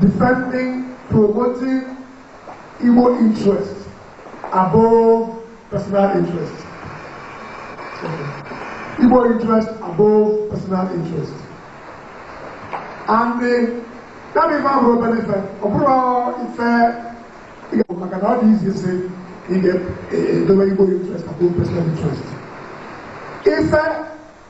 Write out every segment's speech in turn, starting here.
defending, promoting Igbo interests above personal interests. Igbo interests above personal interests. And the ya bụ ife abụrọ obere ife ọ bụrọ ife ịga maka na ọ dị easy ịsị ị ga-edobe igbo interest above personal interest ife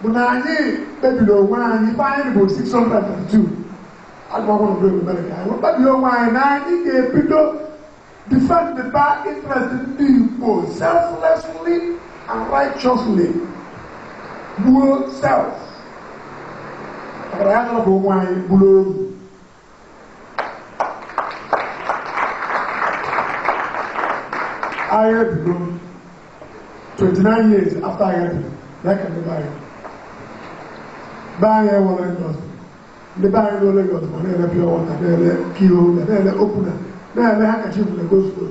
bụ na anyị kpebiri onwe anyị ibe anyị bụ 602 agụmakwụkwọ mgbe ebumere ka anyị kpebiri onwe anyị na anyị ga-ebido defendịba interest ndị Igbo selflessly and righteously gbuo self ọbara ya chọrọ ka onwe anyị bụrụ oru agha bido 29 years after agha bido ya ka ndị be anyị be anyị e nwere industry ndị be anyị nọ Lagos ma na-ele pure water na-ele key holder na na-ele opener na-ele handkerchief na go slow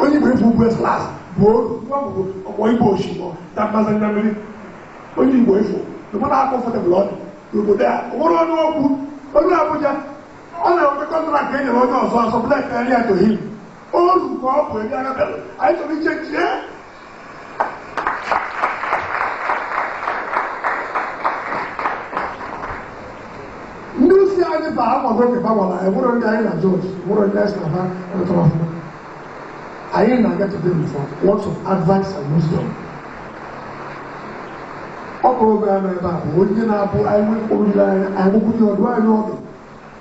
onye igbo efu ugwu eslas bụ oru nwa bụ ọkpọ igbo osimiri na mmasị na mmiri onye igbo efu no matter how comfortable ọ dị n'obodo a o nwerọ ọnụ okwu onye abuja ọ na-enweta contract e nyere onye ọzọ ọ sublet ya to him oru ka ọ bụ ebe agabịa anyị chọrọ iche chie ndị isi anyị ba agbago oge gbawara anyị nwere ndị anyị na jọji nwere ndị anyị na rụtara ọfụma anyị na-aga to them for words of advice and wisdom ọ bụ oge a na ebe a bụ onye na-abụ anyị nwekpọrọ anyị nwekwu ya ọdụ anyị ọdụ